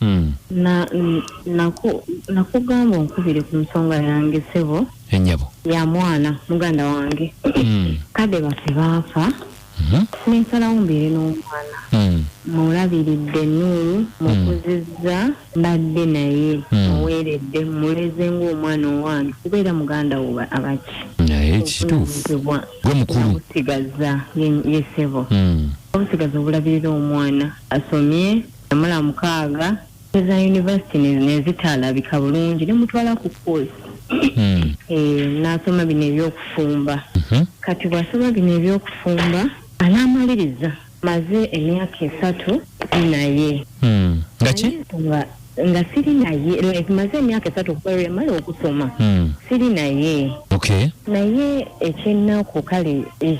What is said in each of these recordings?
Mm. na n- naku- nakugamba onkubire ku nsonga yange sebo Enyabo. ya mwana muganda wange Mm. kade baffe baafa Mhm. nensalawo mbeere n'omwana Mm. mulabiridde enuulu mukuzizza mbadde naye Mm. muweeredde muleze ng'omwana owange kubeera muganda wo ba- abaki Naye kituufu. Obuvunaanyizibwa Gwe mukulu. nabusigaza ye- ye sebo Mm. obusigaza obulabirira omwana asomye namula mukaaga eza university nezitaalabika bulungi nemutwala ku course hmm. eh, nasoma bino ebyokufumba mhm. kati bwasoma bino ebyokufumba anaamaliriza maze emyaka esatu naye hmm. ngaki nga siri naye like maze emyaka esatu okuba lwemala okusoma hmm. siri naye naye ekyennaku kale eh,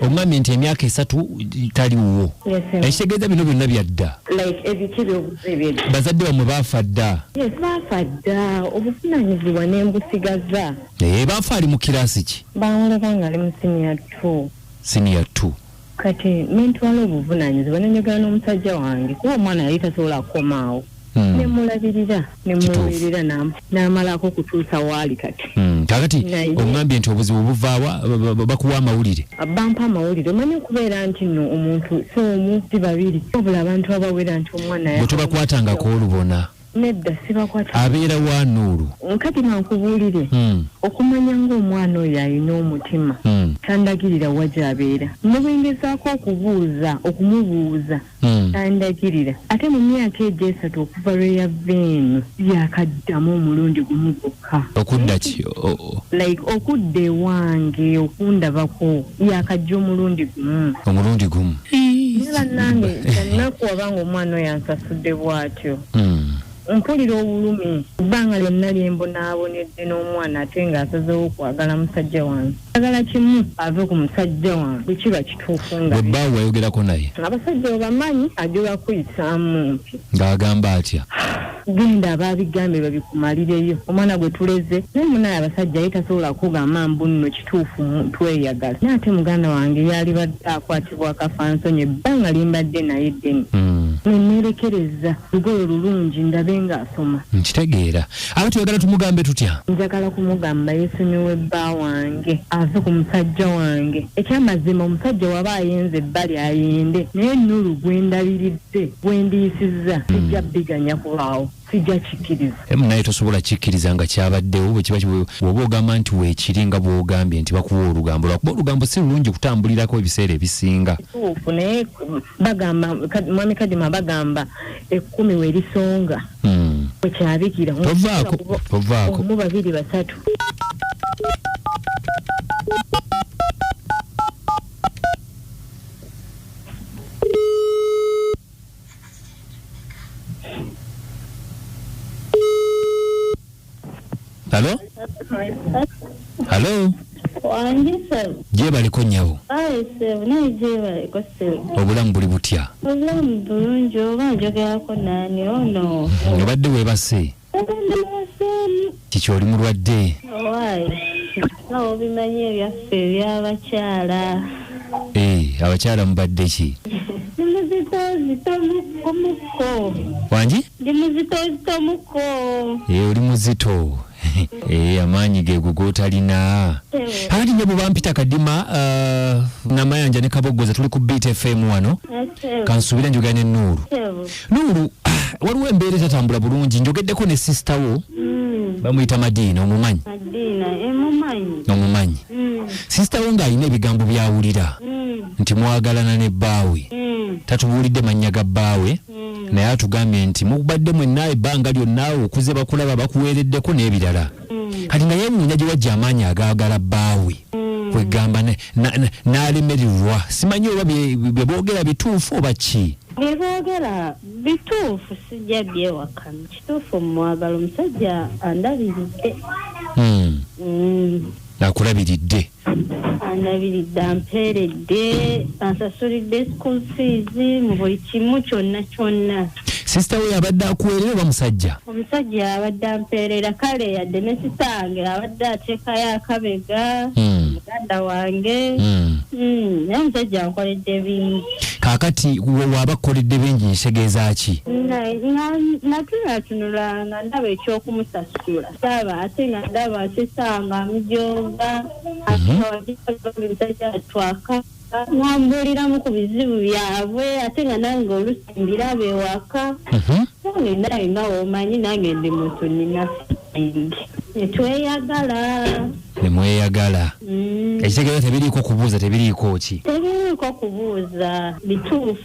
omwami nti emyaka esatu tali wuwo ekitegeeza bino byonna byadda bazadde bamwe baafa dda baafa dda obuvunanyizibwa ne mbusigaza naye baafa ali mu kiraasi ki bawulaba nga ali mu siniya t siniya t kati nentwala obuvunanyizibwa nenyogera n'omusajja wange kuba omwana yali tasobola kukomaawo Hmm. nemulabirira nemuweerera n'amalaako kutuusa waali kati hmm. kakati oŋambye nti obuzibu buvaawa bakuwa amawulire bampa amawulire omanyi okubeera nti no omuntu si omu si babiri obula abantu abawera nti omwana bwe tubakwatangako olubona nedda sibakwata abeera wa nuulu nkati mankubuulire hmm. okumanya ng'omwana oyo alina omutima tandagirira wa gy'abeera ne bwengezaako okubuuza okumubuuza Hmm. andagirira ate mu myaka egyo esatu okuva lwe yava eno yakaddamu omulundi gumu gwokka okudda ki like okudda ewange okundabako yakajja omulundi gumu omulundi gumu ne bannange ennaku wabanga omwana oyo ansasudde bw'atyo hmm. mpulira obulumi ebbanga lyonna lyembonaabonedde n'omwana ate ng'asazewo okwagala musajja wange Njagala kimu ave ku musajja wange bwe kiba kituufu nga. Gwe bbaawo wayogerako naye? Abasajja obamanyi ajula kuyisaamu mpi. Ng'agamba atya? Genda abaabigambye babikumalireyo. Omwana gwe tuleze naye munaye abasajja ye tasobola kukugamba mbu nno kituufu tweyagala naye ate muganda wange yaalibadde akwatibwa akafansonyi ebbanga lye mbadde naye ddene. Ne nneerekereza lugoye olulungi ndabe ng'asoma. Nkitegeera. Aba tuyagala tumugambe tutya? Njagala kumugamba yesonyiwe bba wange ave ku musajja wange. Ekyamazima omusajja waba ayenze ebbali ayende naye Nulu gwendabiridde gwendiyisizza hmm. sijja biganya kubaawo. sijja kikkiriza emu naye tosobola kikkiriza nga kyabaddewo bwekiba woba ogamba nti weekiri nga bwogambye nti bakuwa olugambo lwakuba olugambo si lulungi kutambulirako ebiseera ebisinga kituufu naye bagamba mwami kadima bagamba ekkumi we lisonga hmm. we kyabikira omu babiri basatu halo halo wange sebo gyebaleko nyabo ayi sebo naye gyebaleko sebo obulamu buli butya obulamu bulungi oba njogerako naani ono oh obadde webase kiki oli mulwadde nga obimanyi ebyaffe ebyabakyala Eh, abakyala mubadde ki ndi muzitozitomukko wangi ndi muzitozitomukko Eh, oli muzito Eh, amaanyi geego gotalina hali nyabo bampita kadima uh, namayanja ne kaboggoza tuli ku beat fm wano kansuubira njogera ne nuuru Nuuru waliwo embeera etatambula bulungi njogeddeko ne sisita wo mm. bamuyita madiina omumanyi eh, omumanyi mm. sisita wo ng'alina ebigambo byawulira mm. nti mwagalana ne bbaawe tatubuulidde mannya ga bbaawe naye atugambye nti mubadde mwenna ebbanga lyonna okuze bakulaba bakuweereddeko n'ebirala mm. kati naye nina gyewajja amaanyi agaagala bbaawe mm. kwegamba n'alemererwa simanyi oba byeboogera bituufu oba ki byeboogera bituufu sijja byewakana kituufu mumwagala omusajja andabiridde mm. akulabiridde andabiridde ampeeredde ansasulidde school fees mu buli kimu kyonna kyonna sisita we yabadde akuweerera oba musajja omusajja yabadde ampeerera kale yadde ne sisita wange abadde ateekayo akabega hmm. muganda wange hmm. Hmm, naye omusajja ankoledde bingi kaakati waaba kukoledde bingi ntegeeza ki natulatunulanga ndaba ekyokumusasula saba ate nga ndaba sisanga amujooga awagiaatwaka nambuuliramu ku bizibu byabwe ate nga nange olusi mbiraba ewaka Mhm. nange naye nga womanyi nange ndi muntu nina feeling. netweyagala ne mweyagala Mm. ekitegeeza tebiriiko kubuuza tebiriiko ki tebiriiko kubuuza bituufu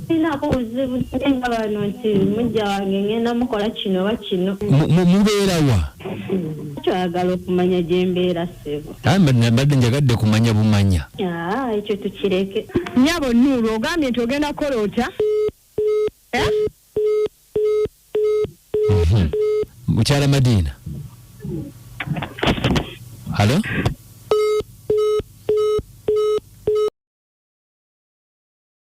sinaako buzibu nga bano nti mujja wange ngenda mukola kino oba kino mubeera wa twagala okumanya gyembeera sebo mbadde njagadde kumanya bumanya ekyo tukireke nyabo nuulu ogambye nti ogenda kukola otya eh? mhm. mukyala madiina halo